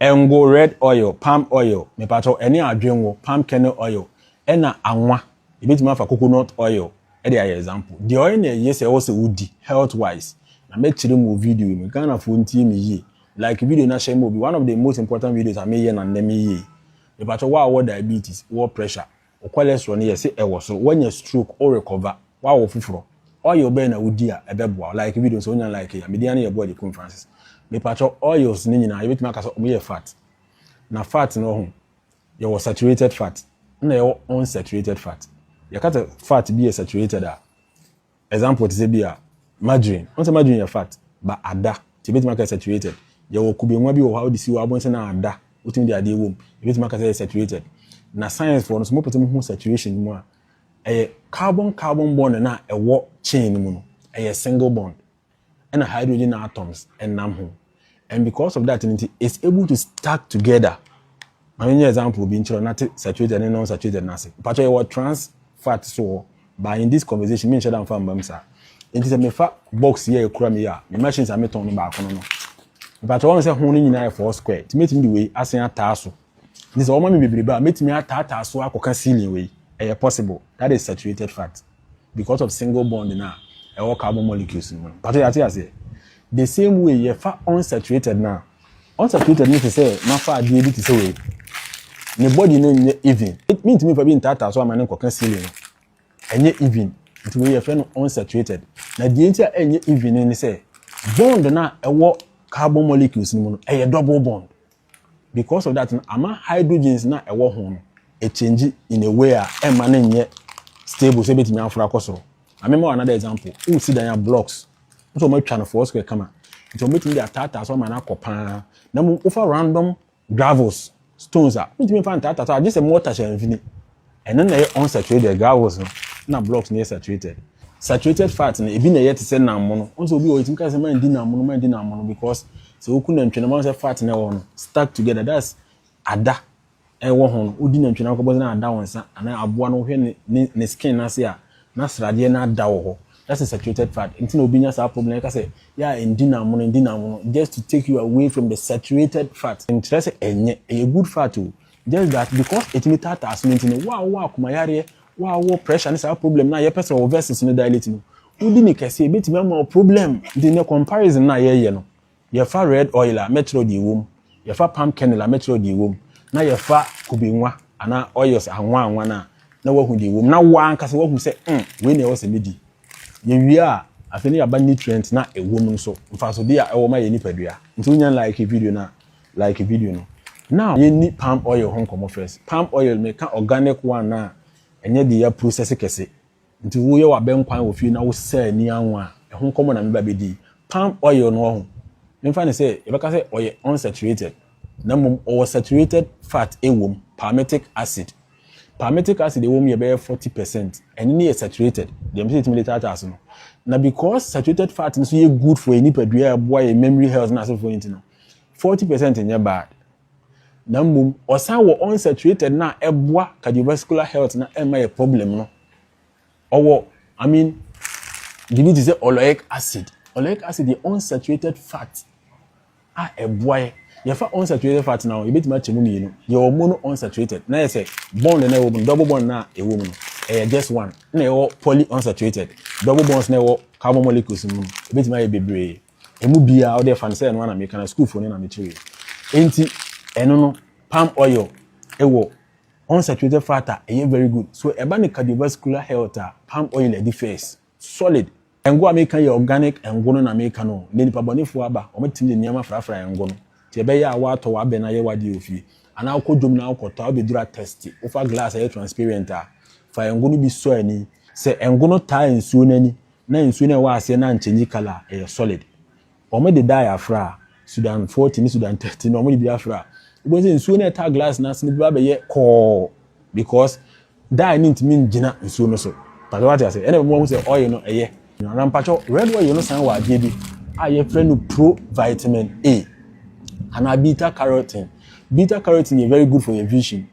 Ngo red oil, palm oil, mepakyɛw ɛne adwengo, palm kernel oil, ɛna anwa, yɛbɛtumi afa coconut oil de ayɛ example. Deɛ ɔyɛ na ɛye sɛ ɛwɔ sɛ wodi health wise na mɛkyerɛ mu wɔ video yi mu. Ghanafoɔ ntie me yie, like video na hyɛ ma obi, one of the most important videos a meyɛ na nnɛ meyɛ yi. Mepakyɛw wo a wowɔ diabetes, wowɔ pressure, Wo cholesterol no yɛ se ɛwɔ soro, wanya stroke, wo rekɔva, woawɔ foforɔ, oil bɛn na wodi a ɛbɛboa wo? Like video no sɛ wonya like yi a. Me din ara ne yɛ Boadi Kum Francis. Mepakyɛw, oils no nyinaa yɛbɛtumi aka sɛ wɔyɛ fat. Na fat no ho, yɛwɔ saturated fat, ɛna yɛwɔ unsaturated fat. Yɛka sɛ fat bi yɛ saturated a, Example te sɛ bi a margarine, wohu sɛ margarine yɛ fat but ada nti yɛbɛtumi aka saturated. Yɛwɔ kube nwa bi wɔ hɔ a wode si wo abonse na ada wotumi de adeɛ wom yɛbɛtumi aka sɛ ɛyɛ saturated. Na science foɔ no sɛ mopɛsɛ mohu saturation mu a ɛyɛ carbon carbon bond no a ɛwɔ chain no mu no ɛyɛ single bond. ɛna hydrogen atoms ɛnam ho and because of that nti it's able to stack together ma menyɛ example bi nkyerɛ nate saturated ne non saturated no ase mpakyɛ yɛwɔ trans fat so wɔ but in this conversation menhyɛ da mfa mmam saa nti sɛ mefa box yɛ ɛkura me yɛ a me machines a metɔn no baako no no mpakyɛ wɔn sɛ ho no nyinaa yɛ four square nti mɛtumi de wei asen ataa so nti sɛ wɔma me bebrebe a mɛtumi ataataa so akɔka ceiling wei ɛyɛ possible that is saturated fat because of single bond no a ɛwɔ carbon molecules no mu no. Pato yɛate aseɛ? The same way yɛfa unsaturated no a, unsaturated no te sɛ mafa adeɛ bi te sɛ wei. Ne body no nyɛ even. Mentumi mfa bi ntaataa so ama no nkɔka ceiling no. Ɛnyɛ even. Nti wei yɛfrɛ no unsaturated. Na deɛ nti a ɛnyɛ even ne sɛ bond no a ɛwɔ carbon molecules no mu no ɛyɛ double bond. Because of that no, ama hydrogens no a ɛwɔ ho no ɛkyɛngyi in a way a ɛmma no nyɛ stable sɛ ɛbɛtumi aforo akɔ soro. Ma mema wo another example. Wosi dan a blocks, wo sɛ wɔatwa no four square kama, nti wɔbɛtumi de ataataa so ama no akɔ paa. Na mmom wofa random gravels, stones a, wontumi mfa ntaataa so agye sɛ mortar hyɛ mfini. Ɛno na ɛyɛ unsaturated gravels no na blocks no yɛ saturated. Saturated fat no ebi na ɛyɛ te sɛ nammono. Wɔn sɛ obi wɔ yɛtumi ka sɛ man di nammono man di nammono because sɛ woku nantwi no man sɛ fat na ɛwɔ no stuck together that's ada ɛwɔ ho no wodi nantwi no akɔbɔ sɛ na ada wɔn nsa anaa aboa no wohwɛ ne ne ne skin n'ase a na sradeɛ no ada wɔ hɔ that's a saturated fat nti na obi nya saa problem ɛka sɛ yɛ a ndi nammono ndi nammono just to take you away from the saturated fat nkyerɛ sɛ ɛnyɛ ɛyɛ good fat o Just that because ɛtumi taataa aso no nti no, wo a wowɔ akomayareɛ, wo a wowɔ pressure ne saa problem no a yɛpɛ sɛ wo vessels no dilate no, wodi ne kɛseɛ a, ɛbɛtumi ama wo problem. Nti nnɛ comparison no a yɛyɛ no, yɛfa red oil a, mɛkyerɛ wo deɛ ɛwɔ mu, yɛfa palm kernel a, mɛkyerɛ wo deɛ ɛwɔ mu, na yɛfa kube nwa anaa oils anwa anwa no a, na woahu deɛ ɛwɔ mu, na wo ara ankasa woahu sɛ hmm, wei na ɛwɔ sɛ medi. Yɛwie a, afei na yɛaba nutrients no a ɛwɔ mu no so, mfasodeɛ a ɛwɔ ma yɛn nipadua. Nti wonya like video no a, Like video no now yɛ nni palm oil ho nkɔmɔ first palm oil me ka organic one a ɛnyɛ deɛ yɛ process kɛse nti wo yɛ wɔ abɛnkwan wɔ fie na wo sɛ ani anwa a ɛho nkɔmɔ na me ba bɛ di palm oil no ɔho me mfa no sɛ yɛ bɛka sɛ ɔyɛ unsaturated na mmom ɔwɔ saturated fat ɛwom palmitic acid palmitic acid ɛwom yɛ bɛyɛ 40 percent ɛno ne yɛ saturated deɛ me sɛ ɛtumi de taataa so no na because saturated fat no so yɛ good for yɛ nipadua ɛboa yɛ memory health na asefoɔ nti no Forty percent nyɛ bad na mmom ɔsan wɔ unsaturated no a ɛboa cardiovascular health na ɛmma yɛ problem no. Ɔwɔ I mean biribi te sɛ oleic acid. Oleic acid yɛ unsaturated fat a ɛboa yɛ. Yɛfa unsaturated fat no a yɛbɛtumi akyɛ mu mmienu. Yɛwɔ mono unsaturated na yɛ sɛ bond na ɛwɔ mu no double bond na ɛwɔ mu no ɛyɛ just one na yɛwɔ poly unsaturated double bonds na ɛwɔ carbon molecules mu no ɛbɛtumi ayɛ bebree. Emu biara, wode fa no sɛ ɛno ara na meka na sukuufo no na mekyerɛe. Enti, ɛno no, palm oil wɔ unsaturated fat a ɛyɛ very good. So ɛba ne cardiovascular health a, palm oil adi first. Solid. Ngo a meka yi yɛ organic ngo no na meka no o, nnɛ nnipa bɔnefo aba, wɔtumi de nneɛma frafra ngo no. Enti ɛbɛyɛ a woatɔ w'abɛ no ayɛ w'adeɛ wɔ fie, anaa wokɔ dwom na wokɔtɔ a, wobɛduru atɛste, wofa glass a ɛyɛ transparent a, fa ngo no bi sɔ ani. Sɛ ngo no taa nsuo no ani Na nsuo no a ɛwɔ aseɛ no ankyɛngyi kala, ɛyɛ solid. Wɔn de dye afra, Sudan 40 ne Sudan 30 no wɔn de bi afra. Wobɛhu sɛ nsuo no a ɛtaa glass no ase no bɛba abɛyɛ kɔɔ because dye no ntumi ngyina nsuo no so. Mpakyɛ wate ase? Ɛna ɛma wɔhu sɛ oil no ɛyɛ. Na mpakyɛ red oil no san wɔ adeɛ bi a yɛfrɛ no provitamin A anaa beta carotene. Beta carotene yɛ very good for your vision.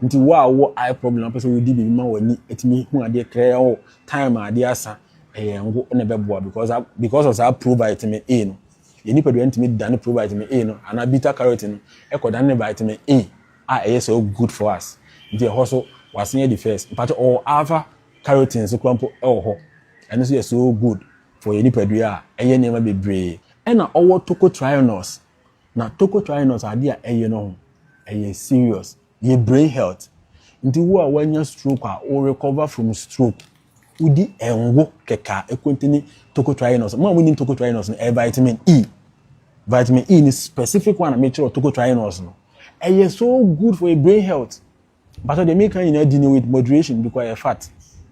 Nti wo a wowɔ eye problem na wopɛ sɛ wodi biribi ma w'ani atumi hu adeɛ krɛɛ o oh, time a adeɛ asa ɛyɛ ngo na ɛbɛboa because because of saa pro vitamin A no yɛ nipadua no tumi dane pro vitamin A no anaa beta carotene no ɛkɔ dane vitamin A a ɛyɛ so good for us nti ɛhɔ so wasen adi first mpakyɛ ɔwɔ alpha carotene nso kora mpo ɛwɔ hɔ ɛno nso yɛ so good for yɛ nipadua a ɛyɛ nneɛma bebree ɛna ɔwɔ tocotrienols Na tocotrienols ade a ɛyɛ no ho ɛyɛ serious yɛ brain health nti wo a wanya stroke a wo recover from stroke wo di ngo kɛkɛ a ɛkontini tocotrienols mo a mo nim tocotrienols no ɛyɛ vitamin E vitamin E ni specific one a mekyerɛ tocotrienols no ɛyɛ so good for your brain health. Mpakyɛw deɛ meka nyinaa di no with moderation because ɛyɛ fat.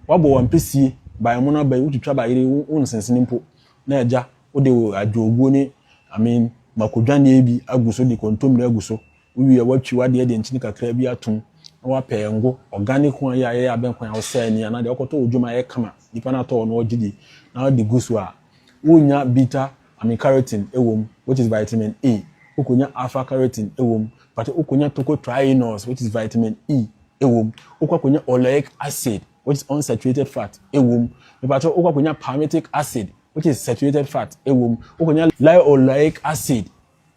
Wabɔ wo ampesie, by mono aba yi, wotwitwa ba yere, wo nsensene mpo, na agya wode wo adwoɔguo ne I mean mako dwaneɛ bi agu so de kontommire agu so, wowie a woatwi wadeɛ de nkyene kakra bi atom na wapɛ ngo, organic one yi a yɛyɛ abɛnkwan a wosɛɛ ani anaa deɛ wokɔtɔ wɔ dwom a ɛyɛ kama, nipa no atɔ wɔ no ɔgye di na wode gu so a, wonya bitter Amycretin wom, which is vitamin A, wokonya alpha-carotene wom, but wokonya tocotrienols, which is vitamin E, wom, wokɔ akonya oleic acid, which is unsaturated fat, wom, mepakyɛw, wokɔ akonya palmitic acid, which is saturated fat, wom, wokonya linoleic acid,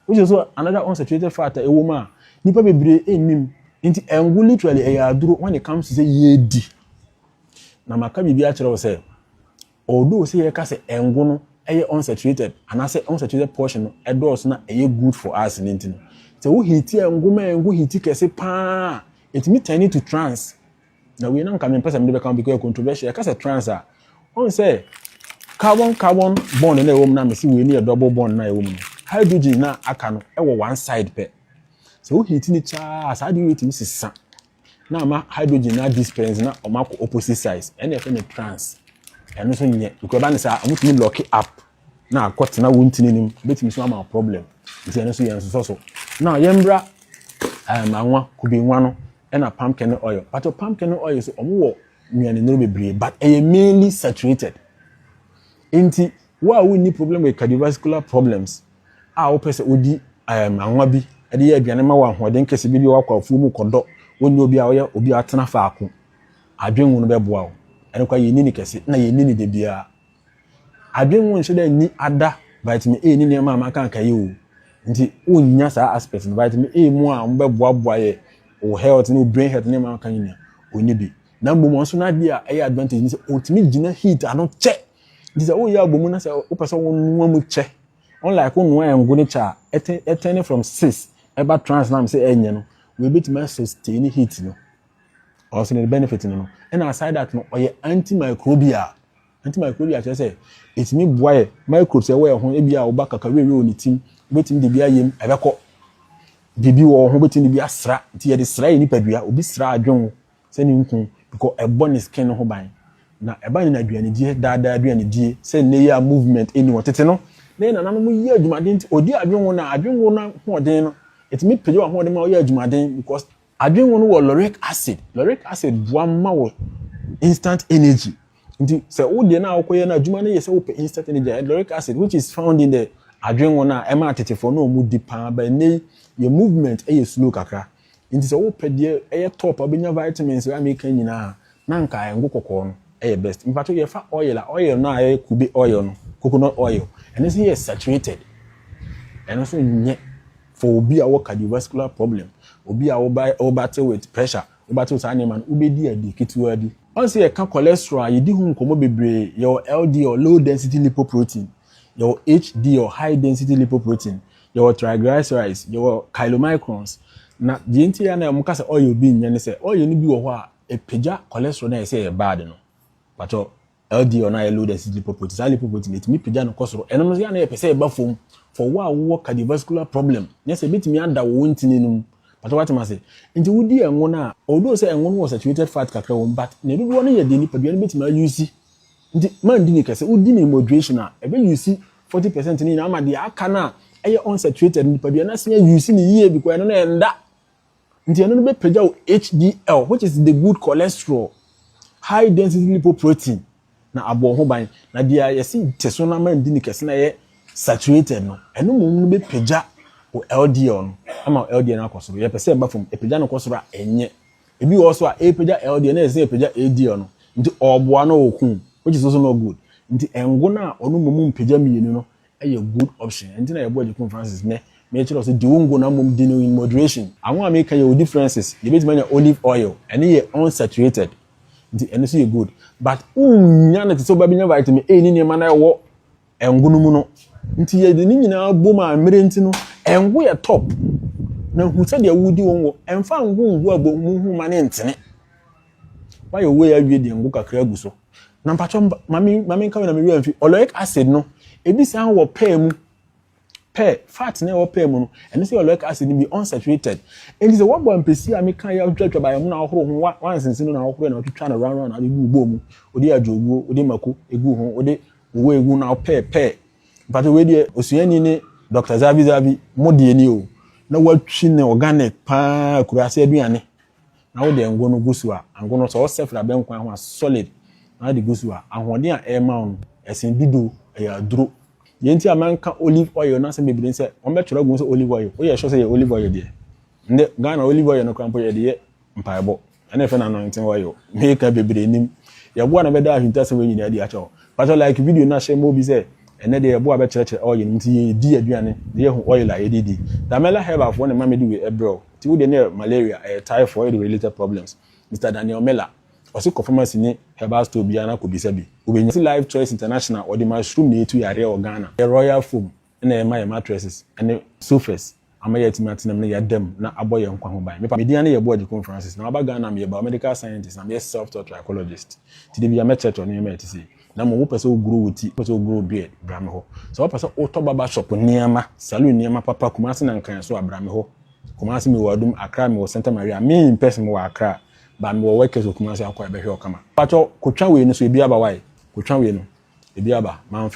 which is also another unsaturated fat a ɛwom a nnipa bebree nnim. Enti ngo literally ɛyɛ aduro when it comes to sɛ yɛredi. Na maka biribi akyerɛ wo sɛ Although sɛ yɛka sɛ ngo no yɛ unsaturated anaasɛ unsaturated portion no dɔɔso na ɛyɛ good for us no nti no, sɛ wo heati ngo ma ngo heati kɛse pa ara a, ɛtumi turn into trans. Na wei na nka mempɛ sɛ mede bɛka ho because ɛyɛ controversial. Yɛka sɛ trans a, ɔhu sɛ carbon carbon bond na ɛwɔ mu na mese wei no yɛ double bond na ɛwɔ mu no, hydrogen na aka no wɔ one side pɛ. Sɛ wo heati no kyɛɛ a, saa adeɛ wei tumi sesa. na ama hydrogen no adisperse na wɔn akɔ opposite sides ɛna yɛfrɛ no trans ɛno nso nyɛ because ɛba ne saa wɔn tumi lock up na akɔ tena wɔn ntini nim ebetumi so ama problem nti ɛno nso yɛn nsosɔ so na yɛn bra ɛɛm eh, anwa kube nwa no ɛna palm kernel oil pàtó palm kernel oil so wɔn wɔ nnuane nnuro bebree but ɛyɛ mainly saturated nti wo a wonni problem with cardiovascular problems. a wopɛ sɛ wodi um, anwa bi de yɛ aduane ma wo ahoɔden kɛse bi de wakɔ afuo mu kɔdɔ wonni obi a ɔyɛ obi a atena faako adwenwu no bɛboa wo. Ɛno kwa yɛnni ne kɛse na yɛnni ne da biara. Adwenwu nhyɛ da nni ada vitamin A ne nneɛma a maka aka yi o. Nti wonnya saa aspect no. Vitamin A mu a wɔbɛboaboa yɛ wo health ne wo brain health ne nneɛma aka nyinaa ɔnni bi. Na mmom ɔno nso n'adeɛ a ɛyɛ advantage ne sɛ ɔtumi gyina heat ano kyɛ Nti sɛ woyɛ abomu na sɛ wopɛ sɛ wonoa mu kyɛ, unlike wonoa ɛngo ne kyɛ a, ɛtɛne from cis ɛba trans na sɛ ɛnyɛ no, wɔbɛtumi asustain ne heat no. Ɔsɛ ne benefit no no. Ɛna aside that no, ɔyɛ antimicrobial. Antimicrobial kyerɛ sɛ, ɛtumi boa yɛ microbes ɛwɔ yɛ ho, ebi a woba kakawewe wɔ ne tim, wobɛtumi de bi ayɛ mu, ɛbɛkɔ. Biribi wɔ hɔ, wobɛtumi de bi asra, nti yɛde sra yɛ nipadua, obi sra adwen wo, sɛ ne nkuu because ɛbɔ ne skin no ho ban na ɛba ne naduanedie daadaa aduanedie sɛ nnɛ yi a movement ɛni hɔ tete no na yɛn nananom yɛ adwumaden nti ɔdi adwenwono a adwenwono no ahoɔden no ɛtumi pagya w'ahoɔden ma woyɛ adwumaden because adwenwono wɔ lauric acid lauric acid boa ma wo instant energy nti sɛ wo deɛ no a wokɔyɛ no adwuma no yɛ sɛ wopɛ instant energy a lauric acid which is found in the adwenwono a ɛma atetefoɔ na ɔmu di paa bɛ nnɛ yi yɛ movement ɛyɛ slow kakra Enti sɛ wopɛ deɛ ɛyɛ top a wobɛnya vitamins a meka nyinaa a, na anka ngo kɔkɔɔ no yɛ best. Mpakyɛw yɛfa oil a, oil no a ɛyɛ kube oil no, coconut oil, ɛno nso yɛ saturated. Ɛno nso nyɛ for obi a ɔwɔ cardiovascular problem, obi a wo wo battle with pressure, wo battle saa nneɛma no, wobɛdi ade ketewaa bi. Woahu sɛ yɛka cholesterol a, yɛdi ho nkɔmmɔ bebree. Yɛwɔ LDL, low density lipoprotein, yɛwɔ HDL, high density lipoprotein, Yɛwɔ triglycerides, yɛwɔ chylomicrons, na deɛ nti a na wɔka sɛ oil bi nyɛ ne sɛ oil no bi wɔ hɔ a ɛpagya cholesterol no a yɛsɛ ɛyɛ bad no. Pakyɛ LDL no a ɛyɛ low density lipoprotein, saa lipoprotein no ɛtumi pagya no kɔ soro. Ɛno no yɛ a na yɛpɛ sɛ ɛba fam for wo a wowɔ cardiovascular problem, nyɛ sɛ ɛbɛtumi ada wo wo ntini no mu. Pakyɛ woate m'ase? Nti wodi ɛngo no a, although sɛ ɛngo no wɔ saturated fat kakra wɔ mu, but ne dodoɔ no yɛ deɛ nipadua no bɛtumi a use Nti mandi no kɛse. Wodi no moderation a, ɛbɛ use forty percent no nyinaa ama deɛ aka no a ɛyɛ unsaturated no, nipadua no asen a use no yie because ɛno no ɛnda. Nti ɛno no bɛpagya wo HDL which is the good cholesterol, high density lipoprotein, na abɔ wo ho ban. Na deɛ yɛse te so na mandi no kɛse na ɛyɛ saturated no, ɛno mmom no bɛpagya wo LDL no ama wo LDL no akɔ soro. Yɛpɛ sɛ ɛba fam, ɛpagya no kɔ soro a ɛnyɛ Ebi wɔ hɔ so a epagya LDL na ɛsɛ sɛ epagya HDL no, nti ɔboa na ɔko, which is also not good. Nti ngo no a ɔno mmom mpagya mmienu no yɛ good option. Ɛno nti na yɛboa Agyekum Francis nnɛ, mekyerɛ wo sɛ di wo ngo na mmom di no in moderation. Ango a meka yi yɛwɔ differences, yɛbɛtumi anya olive oil, ɛno yɛ unsaturated, nti ɛno nso yɛ good, but wonnya no te sɛ wobɛnya vitamin A ne nneɛma no a ɛwɔ Ngo no mu no. Nti yɛde ne nyinaa bom a mmerɛ nti no, ngo yɛ top. Na hu sɛdeɛ wodi wo ngo. Ɛmfa ngo ngu abomu ho ma ne ntene. Wayɛ wei awie deɛ ngo kakra agu so. Na mpatwɔ mame nka na me werɛ amfi. Oleic acid no, ebi san wɔ pɛɛ mu. Pɛ, fat na ɛwɔ pɛ mu no, ɛno nso yɛ oleic acid no bi, unsaturated. Enti sɛ woabɔ ampesie a meka yɛ atwitwatwa baeɛ mu na ahohoro ho, woansensen mu na ahohoro na wotwitwa no round round na wode gu wobɔ mu, wode adwoguo, wode mako egu ho, wode wowɔ egu na wopɛ pɛ. Mpakyɛ wei deɛ osuani ne Doctor Zavi Zavi mo deɛ ni o, na woatwi no organic paa akuraase aduane. Na wode ngo no gu so a, ngo no, sɛ ɔsɛ firi abɛnkwan ho a, solid, na wode gu so a, ahoɔden a ɛrema wo no, ɛsen dudo, ɛyɛ aduro. Deɛ nti a manka olive oil no asɛm bebree ne sɛ, wɔbɛtwerɛ agu ho sɛ olive oil. Woyɛ sure sɛ ɛyɛ olive oil deɛ? Ndɛ Ghana olive oil no koraa mpo yɛde yɛ mpaebɔ. Ɛna ɛfɛ no anointing oil. Meka bebree nim. Yɛboa na bɛda ahintasɛm wei nyinaa adi akyɛ hɔ. Patɔ like video no na hyɛ ma obi sɛ ɛnɛ deɛ yɛboa bɛkyerɛkyerɛ oil no nti yɛdi aduane na yɛhu oil a yɛde di. Damela Herbal foɔ na ɛma mede wei ɛbrɛ wo. Nti wo de no yɛ malaria, ɛyɛ typhoid ne related problems. Mister Daniel Miller, ɔse kɔ pharmacy ne herbal store biara na kɔbisa bi, wobɛnya. Ɔse Life Choice International wɔde mushroom na ɛtu yareɛ wɔ Ghana. Ɛyɛ royal foam na yɛma yɛn mattresses ne sofas ama yɛatumi atena mu na yɛada mu na abɔ yɛn nkwa ho ban. Me pa, me din ane yɛ Boagyekong Francis, na maba Ghana a meyɛ biomedical scientist na meyɛ self-taught trichologist, nti da biara mɛkyerɛkyerɛ nneɛma a ɛte sei. na mmom wopɛ sɛ wogoro wo ti, wopɛ sɛ wogoro wo beard, bra me hɔ. Sɛ wopɛ sɛ wotɔ barber shop nneɛma, saloon nneɛma papa, Kumasi na Nkran nso a, bra me hɔ. Kumasi mewɔ Adum, Accra mewɔ Santa Maria, me in person mewɔ Accra, but mewɔ workers wɔ Kumasi a wokɔ a yɛbɛhwɛ wo kama. Pakyɛw, kotwa wei no so ebi aba wai? Kotwa wei no, ebi aba, mamfa.